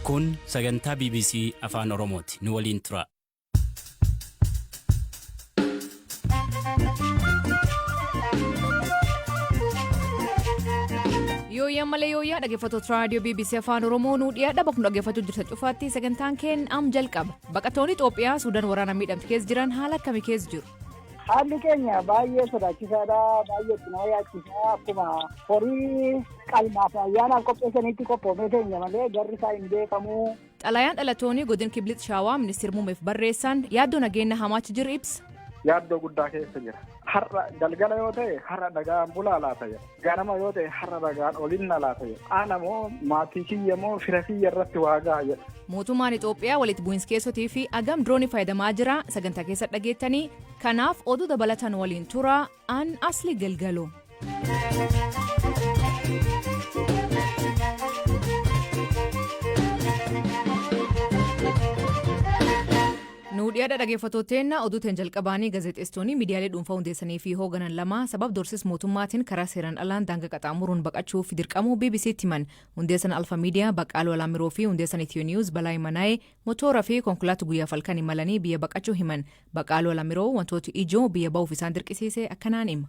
Kun sagantaa bbc Afaan Oromooti. Nu waliin turaa. Yooyyaa malee yooyyaa dhaggeeffattoota raadiyoo BBC Afaan Oromoo nuu dhiyaadha bakka nu dhaggeeffachuu jirtan cufaatti sagantaan keenya am jalqaba. Baqattoonni Itoophiyaa Suudaan waraana miidhamte keessa jiran haala akkamii keessa jiru? Haalli keenya baay'ee sodaachisaadha. Baay'ee itti nama yaachisa. Akkuma horii qalmaaf ayyaanaaf qopheessanitti qophoofnee teenya malee garri isaa hin beekamu. Xalayaan dhalatoonni godin Kiblit Shaawaa ministeer muumeef barreessaan yaaddoo nageenya hamaachi jiru ibsa. Yaaddoo guddaa keessa jira. Har'a galgala yoo ta'e har'a nagaan bulaa laata jedha. Ganama yoo ta'e har'a bagaan olin na laata jedha. Ana moo maatii kiyya moo fira kiyya irratti waa ga'a jedha. Mootummaan Itoophiyaa walitti bu'insa keessotii fi agam diroonii fayyadamaa jira sagantaa keessa dhageettanii kanaaf oduu dabalatan waliin tura an asli galgalo. Nuu dhiyadha dhageeffatoo teenna oduu teen jalqabaanii gazexeessitoonii miidiyaalee dhuunfaa hundeessanii fi hooganan lama sabab dorsis mootummaatiin karaa seeran alaan daanga qaxaamuruun baqachuuf dirqamuu BBCtti himan hundeessan Alfa Miidiyaa Baqqaaluu Alaamiroo fi hundeessan Ethio News Balaay Manaayee motoora fi konkolaatu guyyaaf halkan imalanii biyya baqachuu himan Baqqaaluu Alamiroo wantooti ijoo biyya ba'uuf isaan dirqisiise akkanaan hima.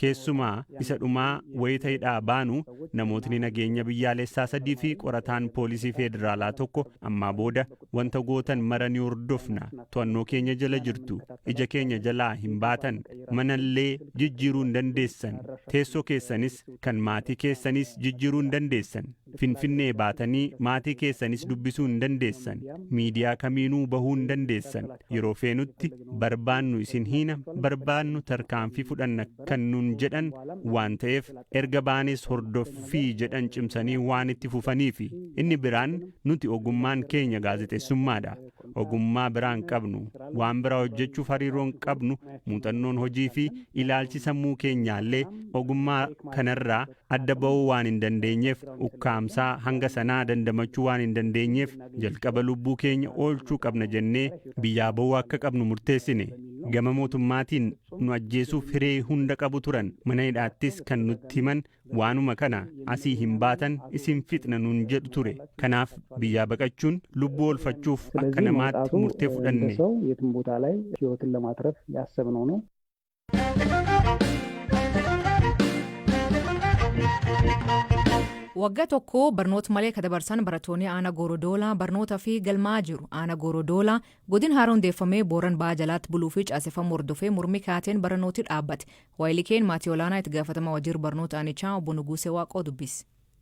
Keessumaa isa dhumaa wayita hidhaa baanu namootni nageenya biyyaaleessaa sadii fi qorataan poolisii feedraalaa tokko ammaa booda wanta gootan mara ni hordofna, to'annoo keenya jala jirtu, ija keenya jalaa hin baatan, mana illee jijjiiruu hin dandeessan, teessoo keessanis kan maatii keessaniis jijjiiruu hin dandeessan. Finfinnee baatanii maatii keessanis dubbisuu hin dandeessan. Miidiyaa kamiinuu bahuu hin dandeessan. Yeroo feenutti barbaannu isin hiina, barbaannu tarkaanfii fudhanna kan nuun jedhan waan ta'eef erga baanees hordoffii jedhan cimsanii waan itti fufaniifi. Inni biraan nuti ogummaan keenya gaazexessummaadha. Ogummaa biraa hin qabnu. Waan biraa hojjechuuf hariiroo hin qabnu, muuxannoon hojiifi ilaalchi sammuu keenyaallee ogummaa kanarraa adda ba'uu waan hin dandeenyeef, ukkaamsaa hanga sanaa dandamachuu waan hin dandeenyeef, jalqaba lubbuu keenya oolchuu qabna jennee biyyaa ba'uu akka qabnu murteessine. Gama mootummaatiin nu ajjeesuuf hiree hunda qabu turan, mana hidhaattis kan nutti himan waanuma kana, asii hin baatan isin fixna nuun jedhu ture. Kanaaf biyyaa baqachuun lubbuu oolfachuuf akka namaatti murtee fudhanne. Waggaa tokko barnoota malee ka dabarsan barattoonni aana Goorodoolaa barnootaa fi galmaa'aa jiru. Aana Goorodoolaa godin haara hundeeffamee booran ba'aa jalaatti buluu fi caaseffamuu hordofee mormii kaateen baranooti dhaabbate. Waayilikeen maatii olaanaa itti gaafatamaa wajiir barnoota aanichaa obbo Nuguusee Waaqoo dubbise.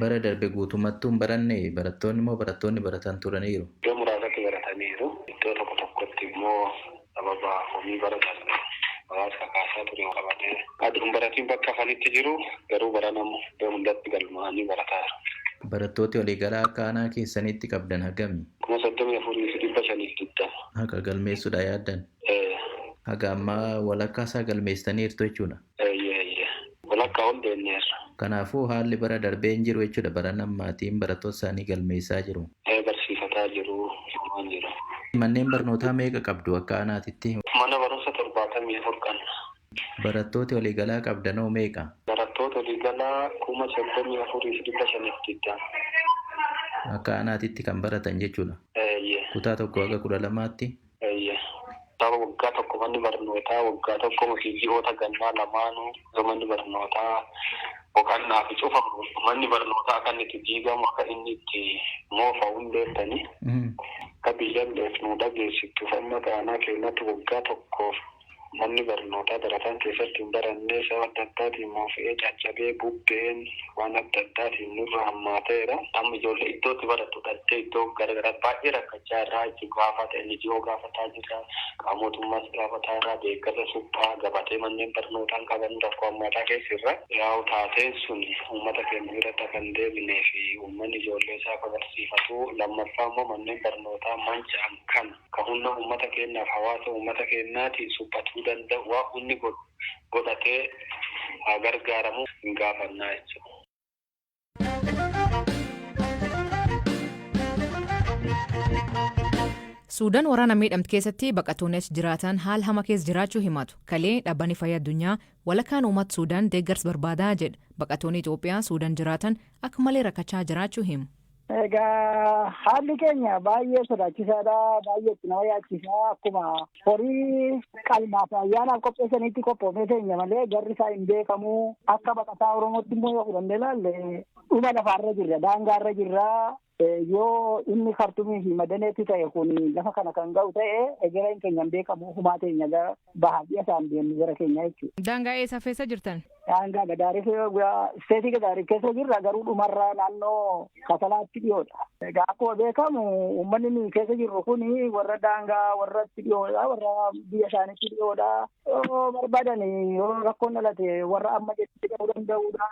Bara darbe guutummattuu hin baranne, barattoonni immoo barattoonni baratan turaniiru. Iddoo muraasatti barataniiru. Iddoo tokko tokkotti immoo sababa komii bara darbe hawaasi kakaasaa ture walqabatee adoo hin baratiin bakka hafanitti jiru. Garuu barana immoo iddoo hundatti galmaa'anii barataa jiru. Barattooti waliigalaa akka aanaa keessaniitti qabdan hagami? 34,520. Haqa galmeessuudha yaaddan? Ee. Haga ammaa walakkaa isaa galmeessitaniirtu jechuudha? Eeyyee eeyyee walakkaa ol deemneerra. Kanaafuu haalli bara darbee hin jiru jechuudha barana ammaatiin barattoota isaanii galmeessaa jiru. Ee barsiifataa jiru dhumaan jira. Manneen barnootaa meeqa qabdu akka aanaatitti? Mana barumsa 74 qabna. Barattooti waliigalaa qabdanoo meeqa? Barattoota waliigalaa 34,520. Akka aanaatitti kan baratan jechuudha? Eeyyee. Kutaa 1 haga 12tti? Eeyyee. Kitaaba waggaa tokko manni barnootaa waggaa tokko fi ji'oota gannaa lamaanuu yoo manni barnootaa boqannaafi cufamu manni barnootaa akka inni itti diigamu akka inni itti moofa'u hin beektanii? Akka biyyalleef nuu dhageessittuuf amma aanaa keennatti waggaa tokkoof Manni barnootaa barataan keessatti hin barannee sababa adda addaatiin moofa'ee, caccabee, bubbeen waan adda addaatiin nurra hammaateera. Amma ijoollee iddoo itti barattu dhabdee iddoo gara garaatti baay'ee rakkachaa irraa jechuun gaafata NGO gaafataa jirra, qaama mootummaas gaafataa irraa, deeggarsa suphaa, gabatee manneen barnootaa hin qaban rakkoo hammaataa keessa irra. Yaa'u taateen sun uummata keenya biratti akka hin deebinee fi uummanni ijoollee isaa akka barsiifatu lammaffaa immoo manneen barnootaa manca'an kana. ka hunna ummata keennaaf hawaasa ummata keennaatiin suphatuu danda'u waan hunni godhu godhatee haa gargaaramu hin gaafanna jecha. Suudan waraana miidhamte keessatti baqatoonni achi jiraatan haal hama keessa jiraachuu himatu. Kalee dhabbani fayya addunyaa walakaan uumat Suudan deeggars barbaadaa jedha. Baqatoonni Itoophiyaa Suudan jiraatan akka malee rakkachaa jiraachuu himu. Egaa haalli keenya baay'ee sodaachisaadha. Baay'ee itti nama yaachisa. Akkuma horii qalmaaf ayyaanaaf qopheessanitti qophoofnee teenya malee garri isaa hin beekamu. Akka baqataa Oromootti immoo yoo fudhannee ilaalle dhuma lafaarra jirra. Daangaarra jirra. Yoo inni kartumii fi madaneetti ta'e kun lafa kana kan ga'u ta'e egereen keenya hin beekamu. Humaa teenya baha ji'a saan deemnu gara keenyaa jechuudha. Daangaa eessa feessa jirtan? Daangaa Gadaarif isteetii Gadaarif keessa jirra garuu dhumarraa naannoo Kasalaatti dhiyoodha. Egaa akkuma beekamu uummanni nuyi keessa jirru kun warra daangaa warratti dhiyoodha warra biyya isaaniitti dhiyoodha. Yoo barbaadan yoo rakkoon dhalate warra amma jettee ta'uu danda'udha.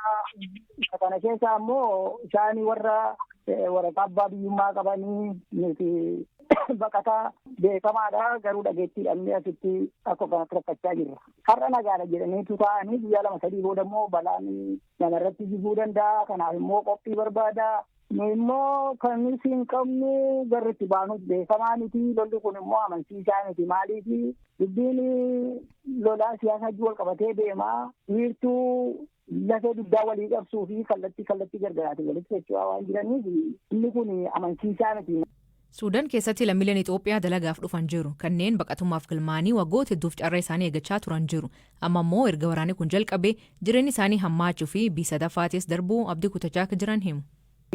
Isa kana keessa ammoo isaan warra waraqaa abbaa biyyummaa qabanii nuti baqataa beekamaadha garuu dhageettii dhabnee asitti akka kanatti rakkachaa jirra. Har'a nagaadha jedhaniitu taa'anii guyyaa lama sadii booda immoo balaan namarratti jiguu danda'a kanaaf immoo qophii barbaada. Nu immoo kan nuti hin qabnu garri itti baanuuf beekamaa miti lolli kun immoo amansiisaa miti maaliifi dubbiin lolaa siyaasaa wal qabatee deema wiirtuu lafee dugdaa walii qabsuu fi kallattii kallattii gargaraatiin walitti socho'aa waan jiraniif inni kun amansiisaa miti. Suudan keessatti lammiileen Itoophiyaa dalagaaf dhufan jiru. Kanneen baqatummaaf galmaa'anii waggoota hedduuf carraa isaanii eeggachaa turan jiru. Amma immoo erga waraanni kun jalqabee jireenyi isaanii hammaachuu fi B3ffaatiis darbuu abdii kutachaa akka jiran himu.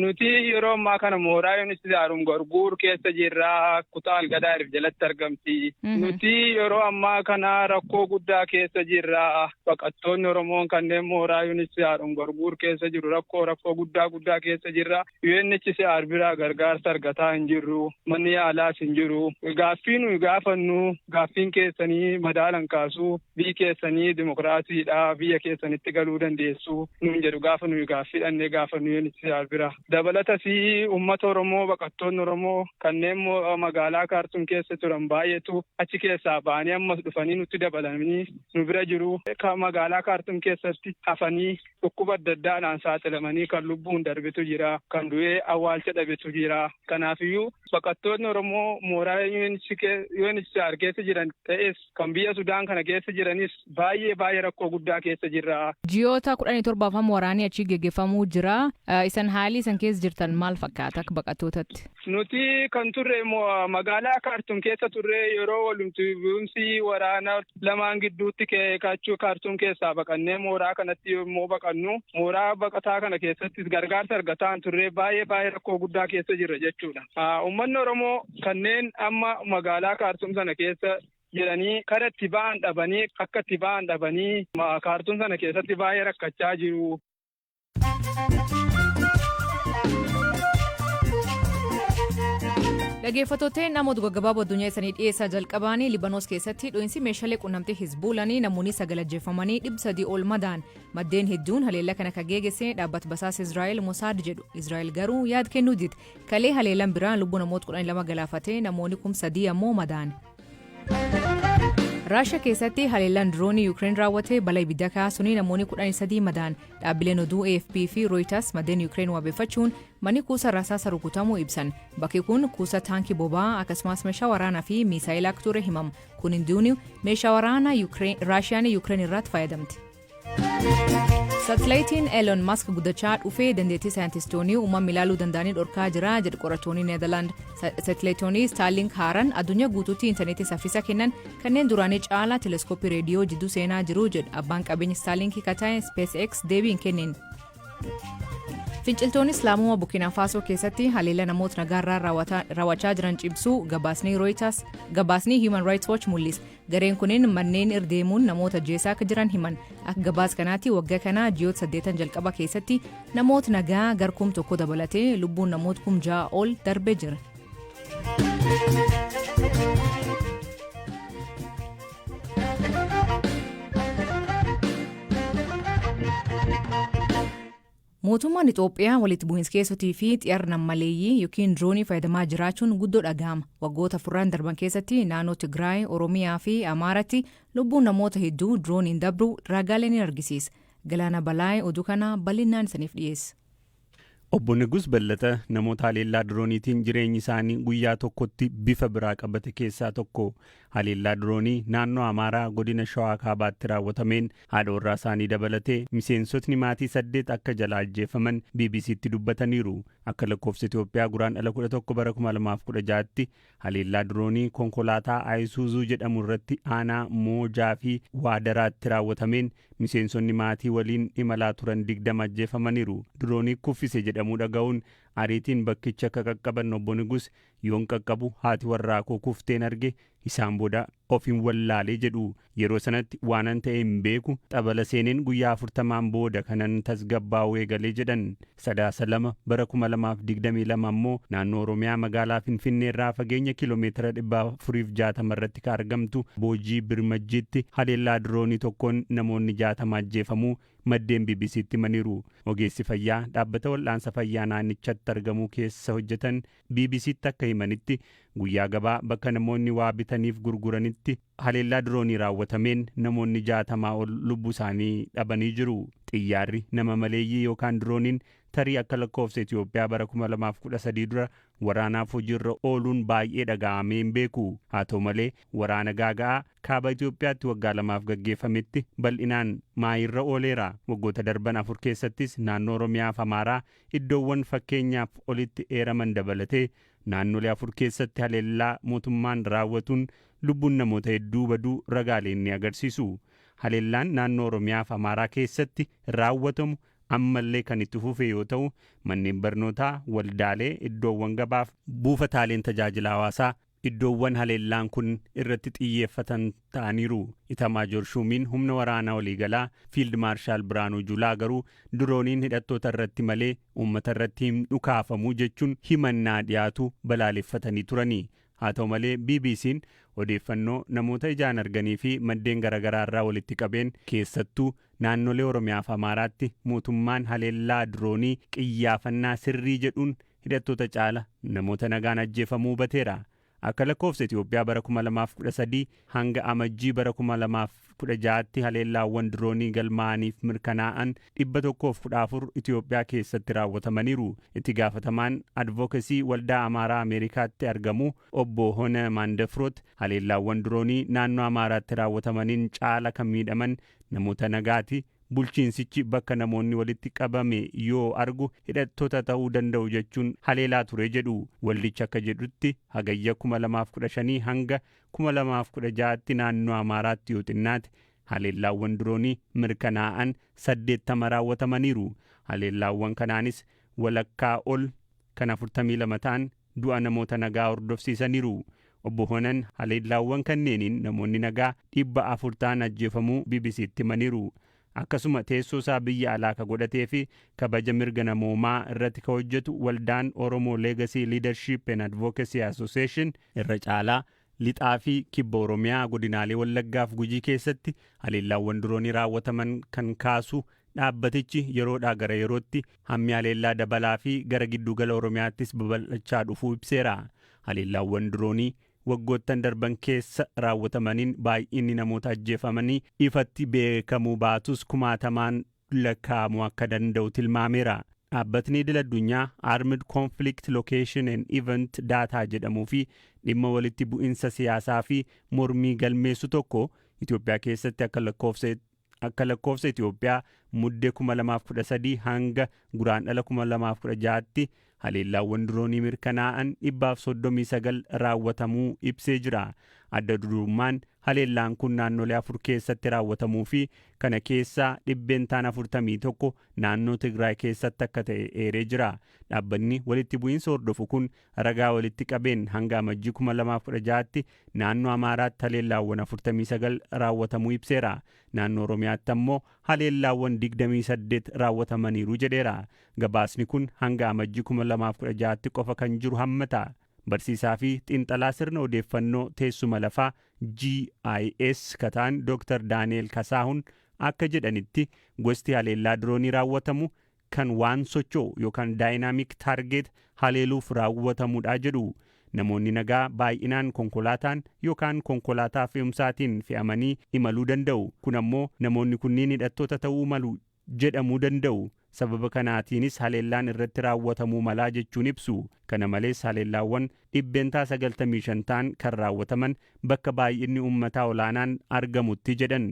Nuti yeroo ammaa kana mooraa Yuunivarsiitii Haaruun Gorguur keessa jirra. Kutaa Algadaa Irif jalatti argamti. Nuti yeroo ammaa kana rakkoo guddaa keessa jirra. Baqattoonni Oromoon kanneen mooraa Yuunivarsiitii Haaruun Gorguur keessa jiru rakkoo rakkoo guddaa guddaa keessa jirra. UNHCR biraa gargaarsa argataa hin jirru. Manni yaalaas hin jiru. Gaaffii nuyi gaafannu gaaffiin keessanii madaalan kaasu. Biyyi keessan dimokiraasiidha, biyya keessanitti galuu dandeessu nuun jedhu gaafa nuyi gaaffii dhaqnee gaafannu UNHCR bira. Dabalatas uummata Oromoo, baqattoonni Oromoo kanneen magaalaa Kaartuum keessa turan baay'eetu achi keessaa ba'anii ammas dhufanii nutti dabalamanii nu bira jiru. Magaalaa Kaartuum keessatti hafanii dhukkuba adda addaadhaan saaxilamanii kan lubbuun darbetu jira, kan du'ee awwaalcha dhabetu jira. Kanaafiyyuu baqattoonni Oromoo mooraa UNHCR keessa jiran ta'es Kan biyya Sudaan kana keessa jiranis baay'ee baay'ee rakkoo guddaa keessa jirra. Ji'oota kudhanii torbaaf amma waraanii achii geggeeffamuu jira. Isan haalii isan keessa jirtan maal fakkaata akka baqattootatti? Nuti kan turre magaalaa Kaartuum keessa turre yeroo walumti bu'umsi waraana lamaan gidduutti kachuu Kaartuum keessaa baqannee mooraa kanatti yommuu baqannu mooraa baqataa kana keessattis gargaarsa argataa hin turre baay'ee baay'ee rakkoo guddaa keessa jirra jechuudha. Uummanni Oromoo Kanneen amma magaalaa Kaartum sana keessa jiranii kara itti ba'an dhabanii akka itti ba'an dhabanii Kaartum sana keessatti baay'ee rakkachaa jiru. Dhageeffattootee namoota gaggabaaboo addunyaa isanii dhiyeessaa jalqabaanii Libanoos keessatti dho'iinsi meeshaalee quunnamtii Hizbuulanii namoonni sagal ajjeefamanii dhibba sadii ol madaan maddeen hedduun haleellaa kana kan geegesse dhaabbata basaas Israa'el Mosaad jedhu Israa'el garuu yaad kennuu dide Kalee haleellan biraa lubbuu namoota 12 galaafatee namoonni kum sadii ammoo madaane. Raashiyaa keessatti haleellaan diroonii Yuukireen raawwate balaa ibidda kaasuun namoonni 13 madaan dhaabbileen oduu AFP fi Rooyitaas maddeen Yuukireen wabeeffachuun manni kuusa rasaasa rukutamuu ibsan. Bakki kun kuusa taankii boba'aa akkasumas meeshaa waraanaa fi miisaayilaa akka ture himama. Kun hundiyyuu meeshaa waraanaa Raashiyaan Yuukireen irratti fayyadamte. Satilayitiin Elon Musk guddachaa dhufee dandeettii saayintistoonni uumama ilaaluu danda'anii dhorkaa jira jedhu qorattoonni Needarlaand. Satilayiitoonni Starlink haaran addunyaa guutuutti intarneetii saffisa kennan kanneen duraanii caalaa teleeskooppii reediyoo jidduu seenaa jiru jedhu abbaan qabeenya Starlink kan ta'e SpaceX deebiin kenneen. Finciltoonni Islaamummaa Burkina Faasoo keessatti haleellaa namoota nagaarraa raawwachaa jiran cimsuu gabaasni Reuters gabaasni Human Rights Watch mul'isa. Gareen kunin manneen irra deemuun namoota ajjeesaa akka jiran himan. Akka gabaas kanaatti wagga kana ji'oota saddeetan jalqaba keessatti namoota nagaa gar kum tokko dabalatee lubbuun namoota kum ja'a ol darbee jira. Mootummaan Ixoophiyaa walitti bu'iinskeessotii fi xiyarra nammaleeyyii yookiin droonii fayyadamaa jiraachuun guddoo dhagahama. Waggoota afurran darban keessatti naannoo Tigraay, Oromiyaa fi Amaaratti lubbuun namoota hedduu drooniin dabruu raagaalee ni argisiisa. Galaana Balaay oduu kana bal'innaan isaniif dhiyeessa. Obbo Nigus Bellata namoota haleellaa drooniitiin jireenyi isaanii guyyaa tokkotti bifa biraa qabate keessaa tokko. Haleellaa diroonii naannoo Amaaraa godina Shawaa Kaabaatti raawwatameen haadha warraa isaanii dabalatee miseensotni maatii saddeet akka jalaa ajjeefaman BBC'tti dubbataniiru. Akka lakkoofsa Itoophiyaa Guraandhala 11 bara 2016tti haleellaa diroonii konkolaataa Ayisuuzuu jedhamu irratti aanaa Moojaa fi Waadaraatti raawwatameen miseensonni maatii waliin imalaa turan 20 ajjeefamaniiru. Diroonii kuffise jedhamuu dhaga'uun ariitiin bakkicha akka qaqqaban Obbo Nigus Yoon qaqqabu haati warraa koo kufteen arge, isaan booda ofin wallaale jedhu. Yeroo sanatti waanan ta'e hin beeku, xabala seeneen guyyaa 40n booda kanan tasgabbaa'uu eegale jedhan. Sadaasa 2, bara 2022 ammoo naannoo Oromiyaa magaalaa Finfinneerraa fageenya kiilomeetira 460 irratti ka argamtu Boojii Birmajjiitti haleellaa diroonii tokkoon namoonni 60 ajjeefamuu maddeen BBC'tti himaniiru. Ogeessi fayyaa dhaabbata wal'aansa fayyaa naannichatti argamuu keessa hojjetan BBC'tti akka himanitti, guyyaa gabaa bakka namoonni waa bitaniif gurguranitti haleellaa diroonii raawwatameen namoonni 60 ol lubbuu isaanii dhabanii jiru. Xiyyaarri nama maleeyyii yookaan dirooniin tarii akka lakkoofsa Itoophiyaa bara 2013 dura waraanaaf hojiirra ooluun baay'ee dhaga'amee hin beeku. Haa ta'u malee, waraana gaaga'aa Kaaba Itoophiyaatti waggaa lamaaf gaggeeffametti bal'inaan maayiirra ooleera. Waggoota darban afur keessattis naannoo Oromiyaa fi Amaaraa Iddoowwan fakkeenyaaf olitti eeraman dabalatee naannolee afur keessatti haleellaa mootummaan raawwatuun lubbuun namoota hedduu baduu ragaaleen ni agarsiisu. Haleellaan naannoo Oromiyaa fi Amaaraa keessatti raawwatamu ammallee kan itti fufe yoo ta'u, manneen barnootaa, waldaalee, iddoowwan gabaa fi buufataaleen tajaajila hawaasaa Iddoowwan haleellaan kun irratti xiyyeeffatan ta'aniiru. Itamaajoor Shuumiin Humna Waraanaa Waliigalaa Fiild Maarshaal Birhaanuu Julaa garuu dirooniin hidhattoota irratti malee uummata irratti hin dhukaafamu jechuun himannaa dhiyaatu balaaleffatanii turani. Haa ta'u malee BBC'n odeeffannoo namoota ijaan arganii fi maddeen garaagaraa irraa walitti qabeen keessattuu naannolee Oromiyaa fi Amaaraatti mootummaan haleellaa diroonii qiyyaafannaa sirrii jedhuun hidhattoota caala namoota nagaan ajjeefamuu hubateera. Akka lakkoofsa Itoophiyaa bara 2013 hanga Amajjii bara 2016tti haleellaawwan diroonii galmaa'aniif mirkanaa'an 114 Itoophiyaa keessatti raawwatamaniiru. Itti gaafatamaan advookesii waldaa Amaaraa Ameerikaatti argamu obbo Hona Maandafroot haleellaawwan diroonii naannoo Amaaraatti raawwatamaniin caala kan miidhaman namoota nagaati, Bulchiinsichi bakka namoonni walitti qabame yoo argu hidhattota ta'uu danda'u jechuun haleelaa ture jedhu. Waldichi akka jedhutti Hagayya 2015 hanga 2016tti naannoo Amaaraatti yoo xinnaate haleellaawwan diroonii mirkanaa'an 80 raawwatamaniiru. Haleellaawwan kanaanis walakkaa ol kan 42 ta'an du'a namoota nagaa hordofsiisaniiru. Obbo Honan haleellaawwan kanneeniin namoonni nagaa 400 ta'an ajjeefamuu BBC'tti himaniiru. Akkasuma teessoo isaa biyya alaa ka godhatee fi kabaja mirga namoomaa irratti ka hojjetu waldaan Oromo Legacy Leadership and Advocacy Association irra caalaa Lixaa fi Kibba Oromiyaa godinaalee Wallaggaa fi Gujii keessatti haleellaawwan diroonii raawwataman kan kaasu dhaabbatichi yeroodhaa gara yerootti hammi haleellaa dabalaa fi gara gidduu gala Oromiyaattis babal'achaa dhufuu ibseera. Haleellaawwan diroonii waggoottan darban keessa raawwatamaniin baay'inni namoota ajjeefamanii ifatti beekamuu baatus kumaatamaan lakkaa'amuu akka danda'u tilmaameera. Dhaabbatni idil addunyaa Armed Conflict Location and Event Data jedhamuu fi dhimma walitti bu'insa siyaasaa fi mormii galmeessu tokko Itoophiyaa keessatti akka lakkoofsa akka lakkoofsa Itoophiyaa Mudde 2013 hanga Guraandhala 2016tti Haleellaawwan diroonii mirkanaa'an 139 raawwatamuu ibsee jira. Adda durummaan haleellaan kun naannolee afur keessatti raawwatamuu fi kana keessaa dhibbeentaan 41 naannoo Tigraay keessatti akka ta'e eeree jira. Dhaabbanni walitti bu'iinsa hordofu kun ragaa walitti qabeen hanga Amajjii 2016tti naannoo Amaaraatti haleellaawwan 49 raawwatamuu ibseera. Naannoo Oromiyaatti ammoo haleellaawwan 28 raawwatamaniiru jedheera. Gabaasni kun hanga Amajji 2016tti qofa kan jiru hammata. Barsiisaa fi xiinxalaa sirna odeeffannoo teessuma lafaa, GIS, ka ta'an Dr. Daani'eel Kasaahun akka jedhanitti, gosti haleellaa diroonii raawwatamu kan waan socho'u yookaan dynamic target haleeluuf raawwatamudha jedhu. Namoonni nagaa baay'inaan konkolaataan yookaan konkolaataa fe'umsaatiin fe'amanii imaluu danda'u. Kun ammoo namoonni kunniin hidhattoota ta'uu malu jedhamuu danda'u. Sababa kanaatiinis haleellaan irratti raawwatamuu malaa jechuun ibsu. Kana malees haleellaawwan dhibbentaa 95 ta'an kan raawwataman bakka baay'inni uummataa olaanaan argamutti jedhan.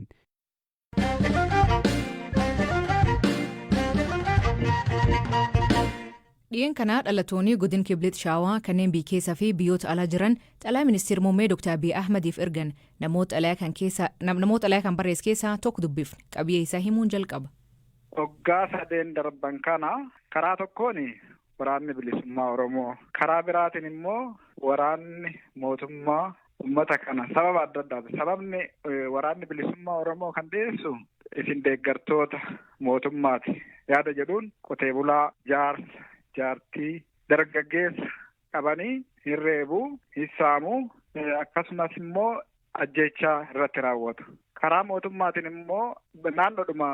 Dhiyeen kana dhalatooni godin Kiblit Shaawaa kanneen biy keessa fi biyyoota alaa jiran xalaya ministir mummee Dr. Abiy Ahmadiif ergan namoot xalaya kan keessa namoot xalaya kan barrees keessaa tok dubbifne. Qabiyee isaa himuun jalqaba. Waggaa sadeen darban kana karaa tokkoon waraanni bilisummaa Oromoo karaa biraatiin immoo waraanni mootummaa Uummata kana sababa adda addaati. Sababni waraanni bilisummaa Oromoo kan dhiyeessu isin deeggartoota mootummaati yaada jedhuun qotee bulaa, jaarsa, jaartii, dargaggeessa qabanii hin reebu, hin saamu akkasumas immoo ajjeechaa irratti raawwatu. Karaa mootummaatiin immoo naannoodhuma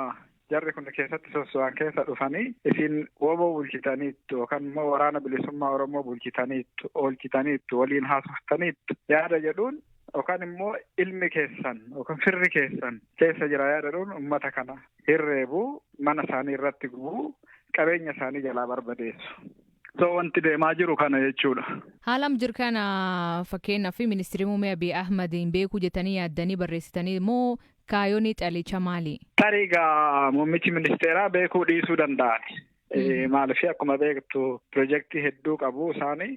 Jarri kun keessatti sosso'an keessa dhufanii isin wbo bulchitaniittu yookaan immoo waraana bilisummaa Oromoo bulchitaniittu, oolchitaniittu, waliin haasoftaniittu yaada jedhuun yookaan immoo ilmi keessan yookaan firri keessan keessa jira yaada jedhuun uummata kana hirreebu, mana isaanii irratti gubu, qabeenya isaanii jalaa barbadeessu. So wanti deemaa jiru kana jechuudha. Haalam jir kana fakkeenyaaf ministirii muummee Abiy Ahmadiin beekuu jettanii yaaddanii barreessitanii moo Kaayoni xalicha maali? Tarii gaa muummichi ministeeraa beekuu dhiisuu danda'an. Maaliif akkuma beektu pirojektii hedduu qabu isaani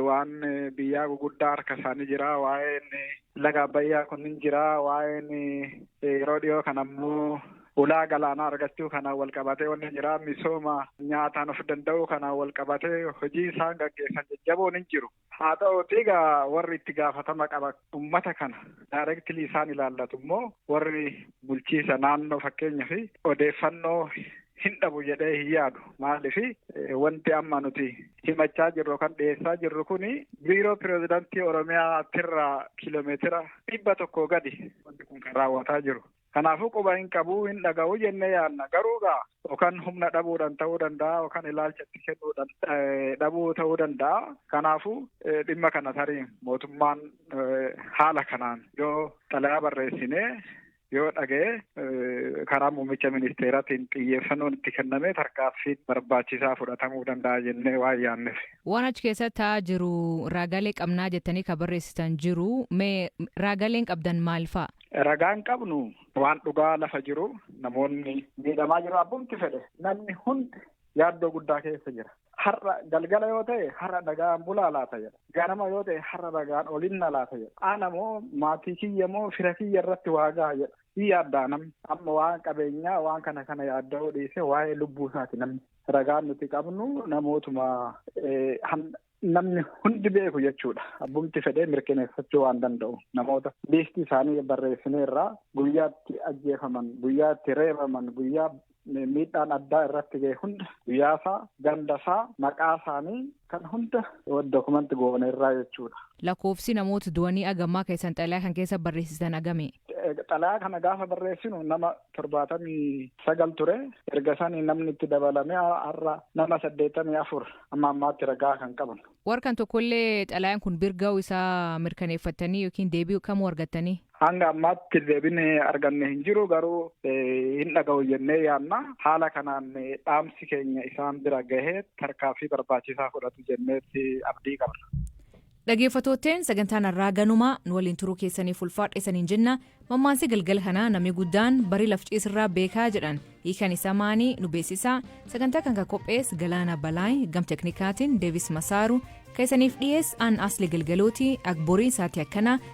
waan biyyaa guguddaa harka isaanii jira waa'een laga abbayyaa kunnin jira waa'een yeroo dhiyoo kan ammoo ulaa galaanaa argachuu kanaan wal qabatee wanni jira misooma nyaataan of danda'uu kanaan wal qabatee hojii isaan gaggeessan jajjaboon hin jiru. Haa ta'uutii egaa warri itti gaafatama qaban ummata kana directly isaan ilaallatu immoo warri bulchiisa naannoo fakkeenyaaf odeeffannoo hin dhabu jedhee hin yaadu. Maaliif wanti amma nuti himachaa jirru kan dhiyeessaa jirru kun biiroo pirezidantii Oromiyaa tirraa kiiloomeetira dhibba tokko gadi wanti kun kan raawwataa jiru. Kanaafuu quba hin qabu, hin dhaga'u jennee yaadna. Garuu egaa yookaan humna dhabuudhaan ta'uu danda'a yookaan ilaalcha itti kennuudhaan dhabuu ta'uu danda'a. Kanaafuu dhimma kana tarii mootummaan haala kanaan yoo xalayaa barreessinee yoo dhaga'e karaa muummicha ministeeraatiin xiyyeeffannoon itti kennamee tarkaanfiin barbaachisaa fudhatamuu danda'a jennee waan yaadneef. Waan achi keessa taa'aa jiru raagaalee qabnaa jettanii kan barreessitan jiru. Mee raagaaleen qabdan maal fa'a? Ragaan qabnu waan dhugaa lafa jiru namoonni miidhamaa jiru abbumti fedhe namni hundi yaaddoo guddaa keessa jira. Har'a galgala yoo ta'e har'a nagaan bulaa laata jedha. Ganama yoo ta'e har'a nagaan olinna laata jedha. Ana moo maatii kiyya moo fira kiyya irratti waa gaha jedha. Hin yaaddaa namni amma waan qabeenyaa waan kana kana yaadda'uu dhiisee waa'ee lubbuu isaati namni. Ragaan nuti qabnu namootuma namni hundi beeku jechuudha. Abbumti fedhee mirkaneeffachuu waan danda'u namoota liistii isaanii barreessinee irraa guyyaatti ajjeefaman, guyyaatti reebaman, guyyaa miidhaan addaa irratti ga'e hunda guyyaasaa, gandasaa, maqaa isaanii kan hunda dokumanti goone irraa jechuudha. Lakkoofsi namoota du'anii agammaa keessan xalayaa kan keessa barreessitan agami? Xalayaa kana gaafa barreessinu nama torbaatamii sagal ture. Erga sanii namni itti dabalamee har'a nama saddeettamii afur Amma ammaatti ragaa kan qabnu. War kan tokkollee xalayaan kun bir ga'uu isaa mirkaneeffattanii yookiin deebii kamuu argattanii? Hanga ammaatti deebiin arganne hin jiru garuu hin dhaga'u jennee yaadna. Haala kanaan dhaamsi keenya isaan bira gahee tarkaanfii barbaachisaa fudhatu jenneetti abdii qabna. Dhageeffattootteen sagantaan har'aa ganumaa nu waliin turuu keessaniif ulfaadha isaniin jenna mammaansi galgala kanaa namni guddaan barii laf ciisirraa beekaa jedhan hiikan isaa maanii nu beeksisaa sagantaa kan kan qophees galaana balaay gam teknikaatiin deevis masaaru kan isaniif dhiyees aan asli galgalooti akboriin saatii akkanaa